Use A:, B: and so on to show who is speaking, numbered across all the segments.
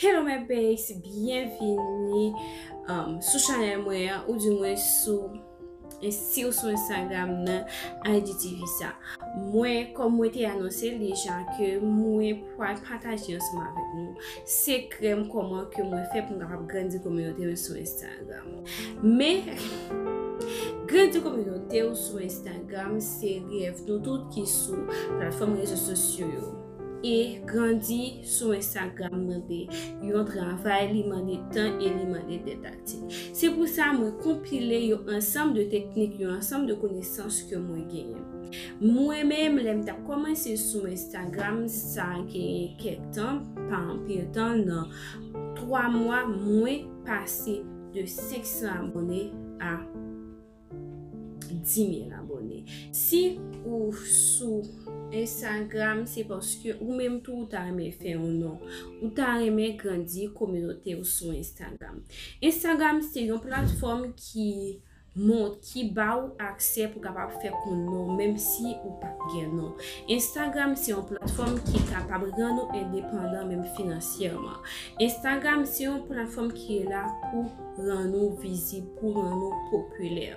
A: Hello my babes, byenvini sou chanel mwen an ou di mwen sou si ou sou Instagram nan IGTV sa. Mwen kom mwen te anonse li ja ke mwen pwal pataje yon soma vek nou se krem koman ke mwen fe pou mwen kapab grandi kominote mwen sou Instagram. Men, grandi kominote ou sou Instagram se rev nou tout ki sou platfom rezo sosyo yo. E grandi. sou Instagram mwen te yon travay li mande tan e li mande tèt aktif. Se pou sa mwen konpile yon ansanm de teknik, yon ansanm de konesans ke mwen genyen. Mwen menm lèm ta komanse sou Instagram sa genyen kèk tan, pa anpil tan nan 3 mwa mwen pase de 500 abone a. 10000 abone. Si ou sou Instagram se paske ou menm tou ou ta renmen fè yon non. Ou ta renmen grandi kominote ou sou Instagram. Instagram se yon platfòm ki moun ki ba ou aksè pou kapab fè koun non menm si ou pa gen non. Instagram se yon platfòm ki kapab gen nou endepandan menm finansyèman. Instagram se yon platfòm ki la pou. Rann ou vizib pou rann ou popilè.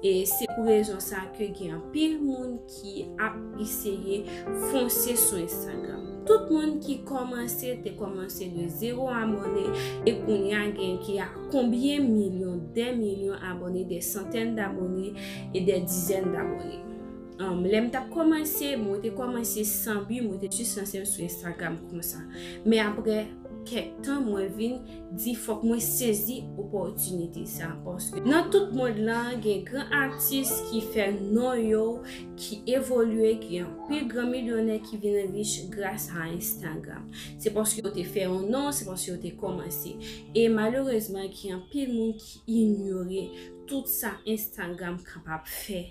A: E se pou rezon sa ke gen anpil moun ki ap eseye fonse sou Instagram. Tout moun ki komanse te komanse de zero abone e kounye a gen ki a konbyen milyon, de milyon abone, de santen d'abone e de dizen d'abone. Lè m t ap komanse, mwen te komanse san bi, mwen te jis lanse m sou Instagram konsa. Men apre kèk tan mwen vin. di fòk mwen sezi opòtinite sa paske nan tout mond lan gen gran atis ki fè non yo ki evolye ki gen anpil gran milyonè ki vin rich gras a enstagram se paske yo te fè yon non se paske yo te kòmanse e malerezman gen anpil moun ki inyore tout sa enstagram kapab fè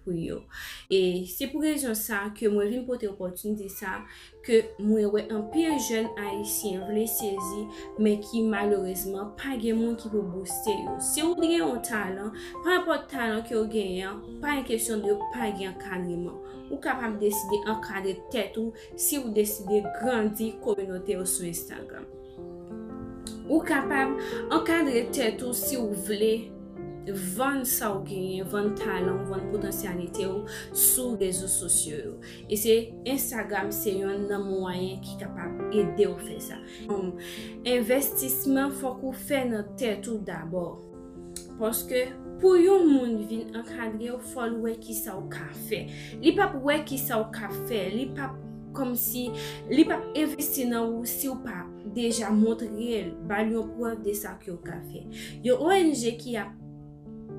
A: pou yo. E se pou rezon sa ke mwen vin pote opòtinite sa ke mwen wè anpil jèn ayisyen vle sezi men ki malerezman pa gen moun ki pou bouste yo. Si ou gen yon talan, pa enpòt talan ke ou genyen an, pa yon kesyon de pa gen ankadreman. Ou kapab deside ankadre tèt ou. si ou deside grandi kominote ou sou Instagram. Ou kapab ankadre tèt ou si ou vle vann sa ou genyen, vann talan, vann potansyalite ou sou rezo sosyo yo. E se Instagram se yon nan mwayen ki kapab ede ou fè sa. Envestisman fòk ou fè nan tèt ou dabò. Paske pou yon moun vin ankadre ou, fò l wè ki sa ou ka fè. Li p ap wè ki sa ou ka fè, li p ap kòm si, li p ap envesti nan ou si ou pa deja montre l, ba l yon prèv de sa ke ou ka fè. Yon ong ki ap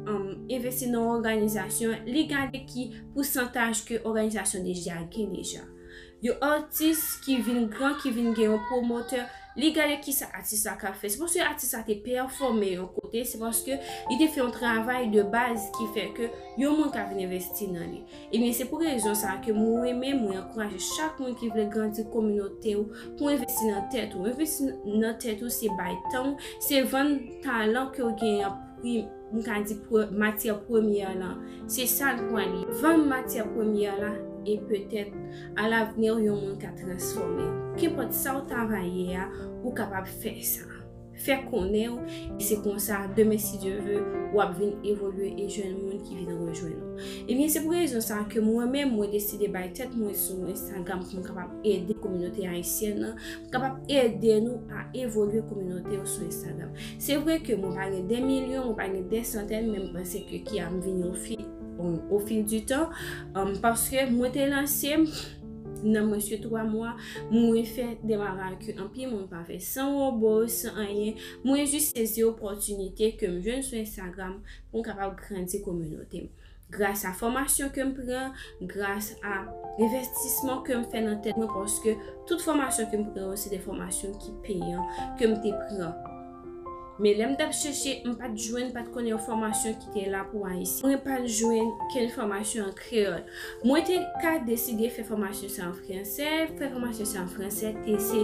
A: envesti nan yon òganizasyon, li gade ki pousantaj ke òganizasyon deja gen deja. Yon atis ki vin gran, ki vin gen yon pwomotè, li gade ki sa atis la ka fè. Se paske atis la te pèfòme yon kote, se paske li te fè yon travay de baz ki fè ke yon moun ka vin envesti nan li. Ebyen, se pou rezon sa a ke mwen renmen, mwen ankouraje chak moun ki vle grandi kominote ou pou envesti nan tèt ou. Envesti nan tèt ou se bay tan ou, se vann talan ke ou genyen an pri. m ka di matyè premyè lan, se sa l pran li. Vann matyè premyè la e petèt alavni w yon moun ka transfòme l. Kenpòt sa w ta va ye a, ou kapab fè sa. Fè konnen w, e se konsa demen si Dye ve, w ap vin evolye e jwenn moun ki vin rejwenn ou. Ebyen se pou rezon sa ke mwen menm mwen deside bay tèt mwen sou Instagram pou m kapab ede kominote ayisyèn lan, pou m kapab ede nou a evolye kominote yo sou Instagram. Se vre ke mwen pa gen de milyon, mwen pa gen de santèn, men m panse ke ki a m vini o fi, o fil di tan, paske mwen te lanse m, nan mwensye 3 mwa, mwen fè de bagay ke anpil moun pa fè, san wobo, san anyen, mwen jis sezi opòtinite ke m jwenn sou Instagram pou m kapab grandi kominote m. Gras a fòmasyon ke m pran, gras a envèstisman ke m fè nan tèt mwen paske tout fòmasyon ke m pran yo se de fòmasyon ki peyan ke m te pran. Men lè m t ap chèche, m pa t jwenn, m pa t konnen yon fòmasyon ki te la pou Ayisyen. Mwen pa t jwenn kenn fòmasyon an kreyòl. Mwen te ka deside fè fòmasyon sa an fransè, fè fòmasyon sa an fransè te se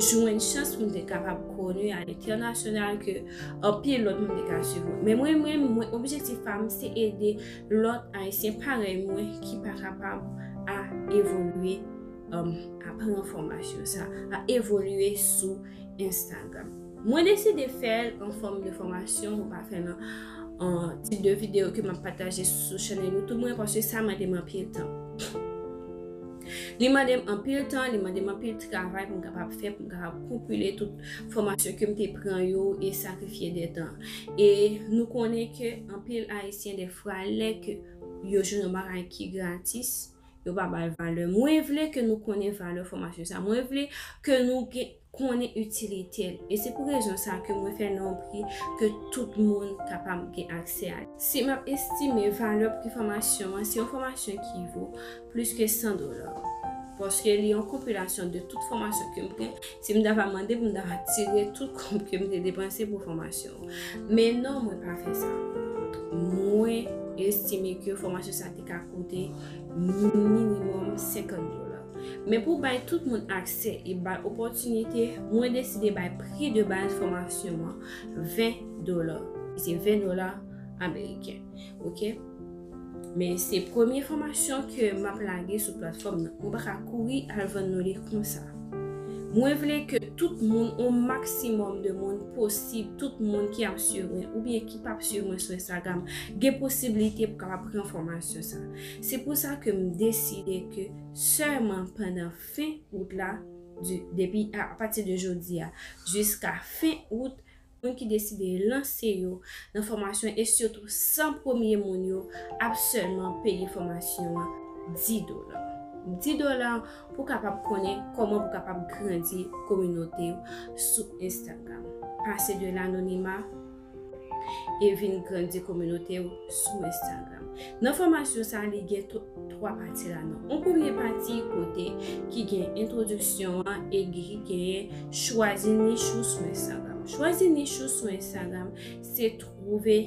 A: jwenn chans pou m te kapab koni a lentènasyonal ke Anpil lòt moun te ka swiv mwen. Men mwen menm, mwen objektif pa m se ede lòt Ayisyen parèy mwen ki pa kapab a evolye, a pran enfòmasyon sa, a evolye sou Instagram. Mwen deside fè l an fòm de fòmasyon, mwen pa fè l an tip de videyo ke m ap pataje sou chanèl YouTube mwen paske sa mande m anpil tan. Li mande m anpil tan, li mande m anpil travay pou m kapab fè, pou m kapab konpile tout. fòmasyon ke m te pran yo e sakrifye de tan. E nou konnen ke anpil Ayisyen defwa lè ke yo jwenn yon bagay ki gratis, yo pa ba l valè. Mwen vle ke nou konnen valè fòmasyon sa. Mwen vle ke nou gen, konnen itilite l. E se pou rezon sa ke mwen fè l nan yon pri ke tout moun kapab gen aksè a li. Si m ap estime valè pri fòmasyon an, se yon fòmasyon ki vo. plis ke 100 dola paske li yon konpilasyon de tout fòmasyon ke m pran si m ta va mande pou m ta va tire tout kòb ke m te depanse pou fòmasyon men non mwen pa fè sa mwen estime ke fòmasyon sa te ka koute minimum 50 dola Men pou bay tout moun aksè e bay opòtinite, mwen deside bay pri de bal fòmasyon an 20 dola. Se 20 dola ameriken. Men se premye fòmasyon ke m ap lage sou platfòm nan. Mwen pa ka kouri al vann nou li konsa. Mwen vle ke tout moun, yon maksimòm de moun posib, tout moun ki ap swiv mwen, oubyen ki pa ap swiv mwen sou Instagram, gen posibilite pou kapab pran fòmasyon sa. Se pou sa ke m deside ke sèman pandan fen out la, depi a pati de jodi a, jiska fen out, moun ki deside lanse yo nan fòmasyon e sitou 100 premye moun yo ap sèlman peye fòmasyon an 10 dola. 10 dola pou kapab konnen kòman pou kapab grandi kominote ou sou Instagram. Pase de lanonima e vin grandi kominote ou sou Instagram. Nan fòmasyon sa li gen tout. 3 pati la nan. On premye pati kote ki gen entwodiksyon an e ki gen chwazi nich ou sou Instagram. Chwazi nich ou sou Instagram se twouve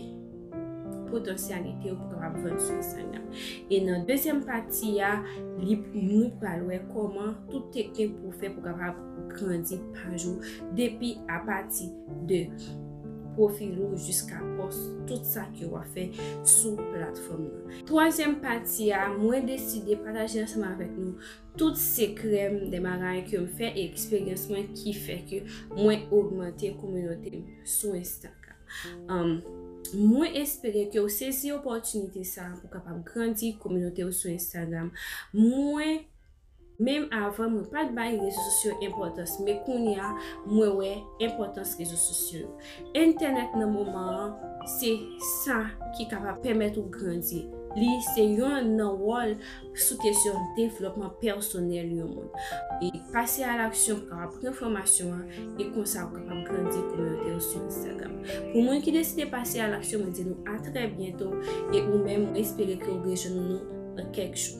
A: potansyalite ou pou kapab vann sou Instagram. E nan dezyèm pati a, li nou pral wè koman tout teknik pou fè pou kapab grandi paj ou depi a pati de pwofil ou jiska pòs tout sa ke w ap fè sou platfòm nan. Twazyèm pati a, mwen deside pataje ansanm avèk nou tout sekrè m, de bagay ke m fè e eksperyans mwen ki fè ke mwen ogmante kominote m sou Instagram. Mwen espere ke ou sezi opòtinite sa pou kapab grandi kominote ou sou Instagram. Mwen. Menm avan mwen pat bay rezo sosyo enpòtans men kounya mwen wè enpòtans rezo sosyo yo. Entènèt nan moman an se sa ki kapab pèmèt ou grandi. Li se yon nan wòl sou kesyon devlòpman pèsonèl yon moun. E pase a laksyon pou kapab pran fòmasyon an e konsa ou kapab grandi kominote ou sou Instagram. Pou moun ki deside pase a laksyon mwen di nou a trè byento e ou menm mwen espere ke ou rejwenn nou nan kèk jou.